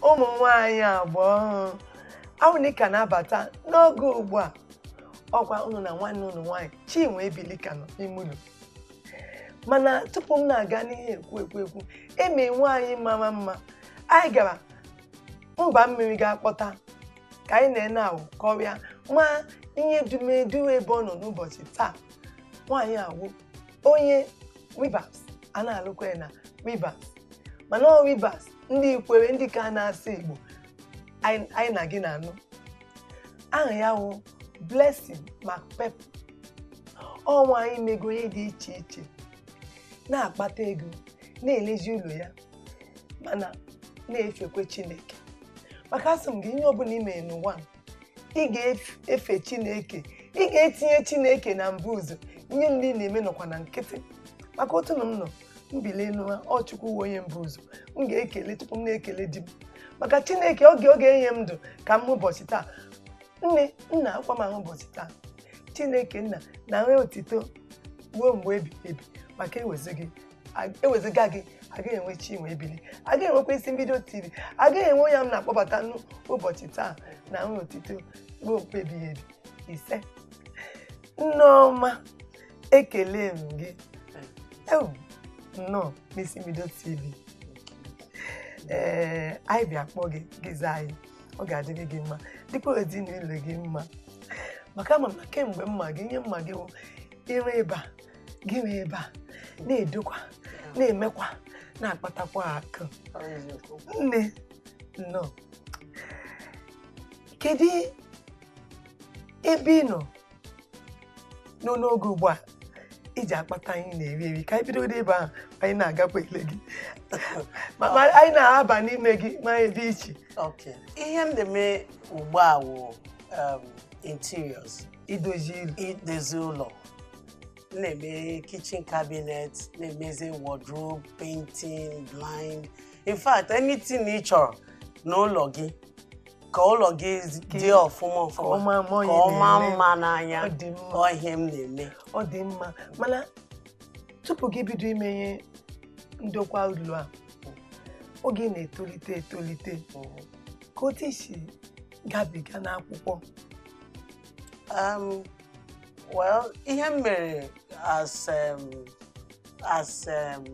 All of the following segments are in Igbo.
ụmụ nwanyị agba ọhụrụ a wụ unu ka na-abata n'oge ugbu a ọkwa unu na nwanne unu nwanyị Chinwe Ebili ka nọ n'ime ụlọ mana tupu m na-aga n'ihe ekwu ekwu ekwu eme nwaanyị mara mma anyị gara mba mmiri gaa kpọta ka anyị na nne ahụ kọrịa ma ihe dumedu ebe ọ nọ n'ụbọchị taa nwaanyị a wụ onye Rivers a na-alụkwa ya na Rivers mana ọ Rivers ndị Ikwere ndị ka na-asụ Igbo anyị na gị na-anụ aha ya wụ Blessing McPepple ọ nwaanyị mego ihe dị iche iche na-akpata ego na-elezi ụlọ ya mana na-efekwe Chineke maka asị m gị ihe ọbụla i mere n'ụwa a, ị ga-efe chineke ị ga-etinye chineke na mbụ ụzọ ihe ndị ị na-eme nọkwa na nkịtị maka otu na m nọ m bilie n'ụra ọ chukwu wụ onye mbụ ụzọ m ga-ekele tupu m na-ekele di m maka chineke ọ ga-enye m ndụ ka m hụ ụbọchị taa nne nna akwa m ahụ ụbọchị taa chineke nna nara otito ruo mgbe ebighị ebi maka ewezuga ewezuga gị agaghị enwe chinwe ebili agaghị enwekwa isi mbido tv agaghị enwe onye m na-akpọbata n'ụbọchị taa nara otito ruo mgbe ebighị ebi ise nneọma ekele m gị nnọọ n'isi mbido tv ee anyị bịa kpọọ gị gị zaa anyị ọ ga-adịrị gị mma dịkwa ezinụlọ gị mma maka ama m na kemgbe m ma gị ihe m ma gị wụ ire ebe a gị ree ebe a na-edokwa na-emekwa na-akpatakwa akụ nne nnọọ kedu ebe ị nọ nọ n'oge ugbu a iji akpata anyị na-eri eri ka anyị bido ebe ahụ anyị na-agakwa ele gị ma anyị na-aba n'ime gị ma ebe dị iche ihe m na-eme ugbu a wụ um, interiors idozi ụlọ m na-eme kitchen cabinet na-emezi wardrobe painting blind in fact anything ị chọrọ n'ụlọ gị ka ụlọ gị dị ọfụma ka ọ maa mma n'anya ọ ihe m na-eme ọ dị mma mana tupu gị bido ime ihe ndokwa ụlọ a oge ị na-etolite etolite kee otu i si gabiga n'akwụkwọ Um, well, ihe m mere as um, as um,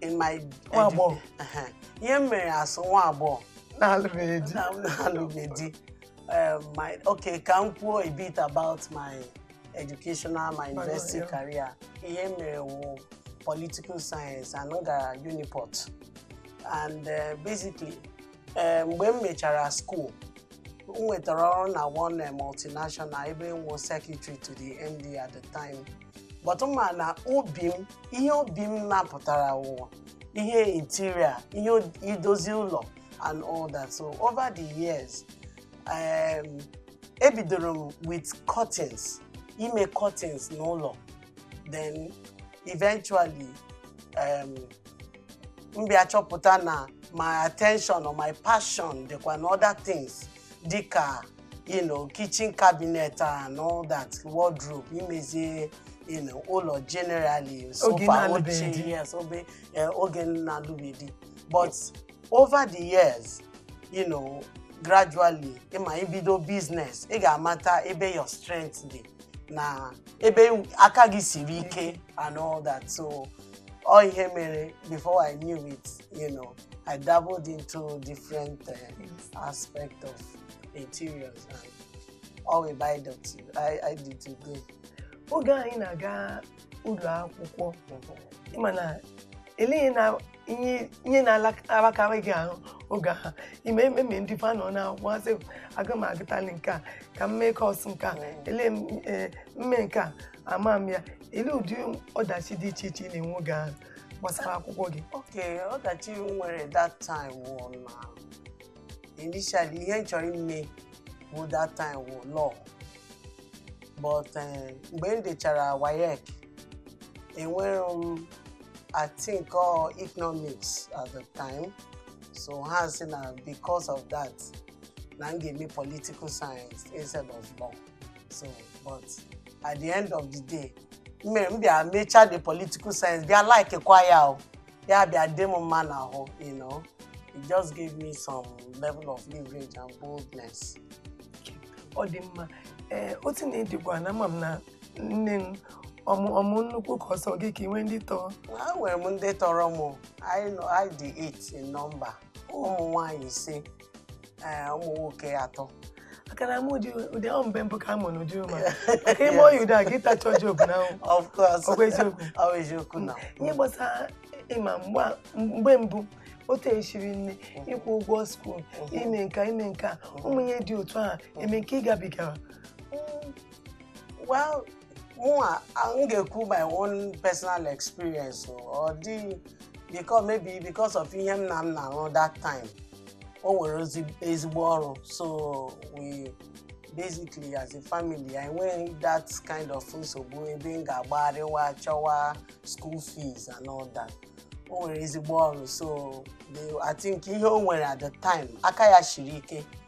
in my Nwa agbọghọ. Uh-huh. ihe m mere as nwa agbọghọ na-alụbeghị di na m na-alụghị di Um, my okay ka m kwuo a bit about my educational my university yeah. career ihe m mere wụ political science and m gara Uniport and uh, basically ee mgbe m mechara school m nwetara ọrụ na one eh, multinational ebe m wụ secretary to the MD at the time but mana obi m ihe obi m napụtara wụ ihe interior ihe o- idozi ụlọ and all that so over the years um, ebidoro m with curtains ime curtains n'ụlọ then eventually um, m bịa chọpụta na my attention or my passion dịkwa na other things dịka you know, kitchen cabinet and all that wardrobe imezi you know, ụlọ generally Oge sofa na-alụbeghị oche di. yes oge eh, oge m na-alụbeghị di but over the years you know, gradually ị ma ị bido business ị ga-amata ebe your strength dị na ebe aka gị siri ike and all that so ọ ihe mere before I knew it you know I dabbled into different uh, aspect of interiors and ọ wụ ebe anyị dị, anyị dị today oge anyị na-aga ụlọ akwụkwọ ị ma na ele ihe ihe na-alakarị gị ahụ oge ahụ ime ememe ndị fa nọ n'akwụkwọ asị aga m agụtali nke a ka m mee course nke a ele m ee, m mee nke a ama m ya ele ụdị ọdachi dị iche iche ị na-enwe oge ahụ gbasara akwụkwọ gị Okay, ọdachi m nwere that time wụ na initially ihe m chọrọ ime bụ that time wụ law but eh, mgbe m dechara WAEC enwere m I think all economics at the time so ha sị na because of that na m ga-eme political science instead of law so but at the end of the day m mere m bịa mechaa the political science bịa like kwa ya o ya bịa dị m mma n'ahụ you know it just gave me some level of leverage and boldness ọ dị mma ee otu na ịdịkwa na ama m na nne m ọ mụ ọ mụ nnukwu ka ọ sọ gị ka ị nwee ndị tọrọ enwere m ndị tọrọ m anyị nọ- anyị dị 8 in number ụmụ nwaanyị ise ee, ụmụ nwoke atọ akara m ụdị ụdị ahụ mgbe mbụ ka a mụ n'ụdị ụma maka ime oyi ụdị a gị tachọ job na ahụ of course Ọ bụ eziokwu? Ọ bụ eziokwu na ihe gbasara ịma mgbe a- mgbe mbụ otu esiri nne ịkwụ ụgwọ skuul ime nke a ime nke a ụmụ ihe dị otu ahụ eme nke ị gabigara Mm, well mụnwa a- m ga-ekwu my own personal experience o. ọ dịghị because maybe because of ihe nna m na-arụ that time o nwere ozi- ezigbo ọrụ so we basically as a family anyị enweghị that kind of nsogbu ebe m ga-agbagharịwa chọwa school fees and all that o nwere ezigbo ọrụ so the- I think ihe o nwere at the time aka ya shiri ike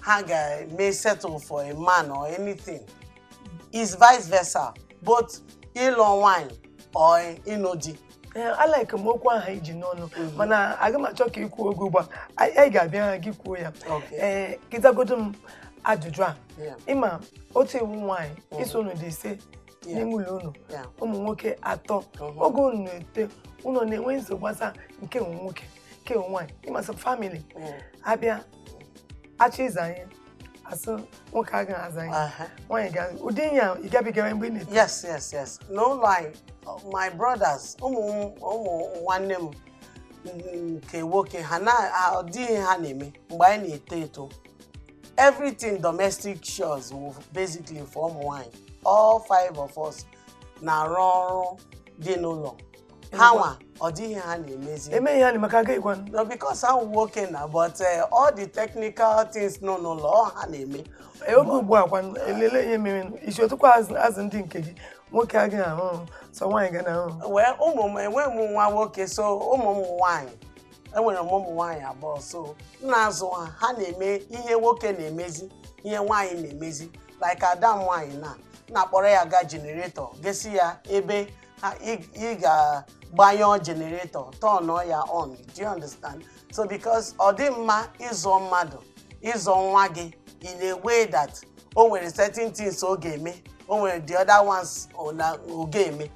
ha ga-eme settle for a man or anything is vice versa both ịlụ nwanyị or ịnụ di Ee, a like m okwu ahụ i ji n'ọnụ mana aga m achọ ka ị kwuo ọ bụghị ugbu a anyị anyị ga-abịa gị kwuo ya Okay. ee gị zagodu m ajụjụ a Yeah. ị ma otu ị wụ nwaanyị ị sị unu dị ise Yeah. n'ime ụlọ unu Yeah. ụmụ nwoke atọ Mhm. oge unu na-eto unu na-enwe nsogbu gbasara nke nwa nwoke nke nwa nwaanyị ịmasị family Yeah. a bịa achọ ịza ihe a sị nwoke agaghị aza ihe Aha. nwaanyị ga ụdị ihe a ị gabigara mgbe ị na-eto yes yes yes n'ụlọ anyị my brothers ụmụ m- ụmụ nwanne m nke nwoke ha na ha- ọ dịghị ihe ha na-eme mgbe anyị na-eto eto everything domestic chores wụ basically for ụmụ nwanyị all five of us na-arụ ọrụ dị n'ụlọ ha nwa ọ dị ihe ha na-emezi emeghị ha na maka agaghịkwa no because ha wụ nwoke na but eh, all the technical things nọ n'ụlọ ọ ha na-eme Eh, oge ugbu a kwa elele ihe mere i si otu a kwa azụ azụ ndị nke gị nwoke agaghị arụ ọrụ, sọ nwaanyị ga na-arụ well ụmụ m enweghị m nwa nwoke so ụmụ m nwaanyị enwere m ụmụ nwaanyị abụọ so m na-azụ ha ha na-eme ihe nwoke na-emezi ihe nwaanyị na-emezi like ada m nwaanyị na m na-akpọrọ ya gaa generator gesi ya ebe ha- ị- ị ga-agbanye generator turn ọ ya on do you understand so because ọ dị mma ịzụ mmadụ ịzụ nwa gị in a way that o nwere certain things ọ ga-eme o nwere the other ones ọ na- ọ ga-eme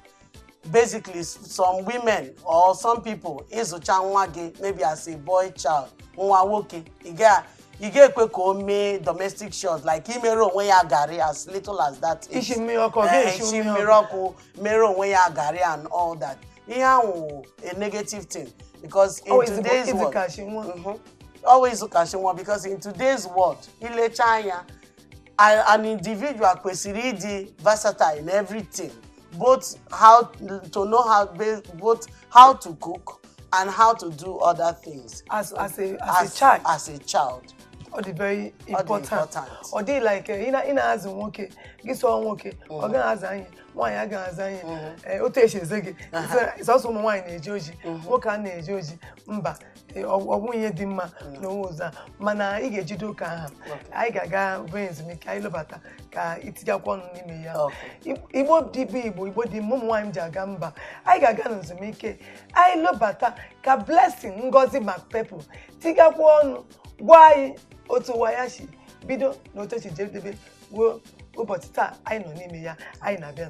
basically s- some women or some people ị zụcha nwa gị maybe as a boy child nwa nwoke ị ga ị ga-ekwe ka o mee domestic chores like imere onwe ya garị as little as that is. isi mmiri ọkụ ọ Eh, ga-esi isi mmiri mmiri ọkụ ọkụ mere onwe ya garị and all that ihe ahụ wụ a negative thing because in Always today's world ịzụkachi nwa Mhm. always zụkachi nwa because in today's world i lecha anya an an individual kwesịrị ịdị versatile in everything both how to know how ba- both how to cook and how to do other things as as a as, a child as a child ọ dị very dị important important. ọ dị like eh, ị na- ị na-azụ nwoke gị sị ọ nwoke ọ gaghị aza anyị nwaanyị a gaghị aza anyị Eh, otu esi eze gị sọsọ ụmụ nwaanyị na-eje ozi nwoke anaghị eje ozi mba e, ọ bụghị ihe dị mma n'onwe ụzọ a mana ị ga-ejido ka ọ ha anyị ga-aga obere ezumike anyị lọbata ka i tigakwa ọnụ n'ime ya igbo dịbụ igbo igbo dị mma ụmụ nwaanyị ji aga mba anyị ga-aga n'ezumike anyị lọbata ka blessing ngozi macpepple tigakwa ọnụ gwa anyị otu ụwa ya si bido na otu o si jedebe ruo ụbọchị taa anyị nọ n'ime ya anyị na-abịa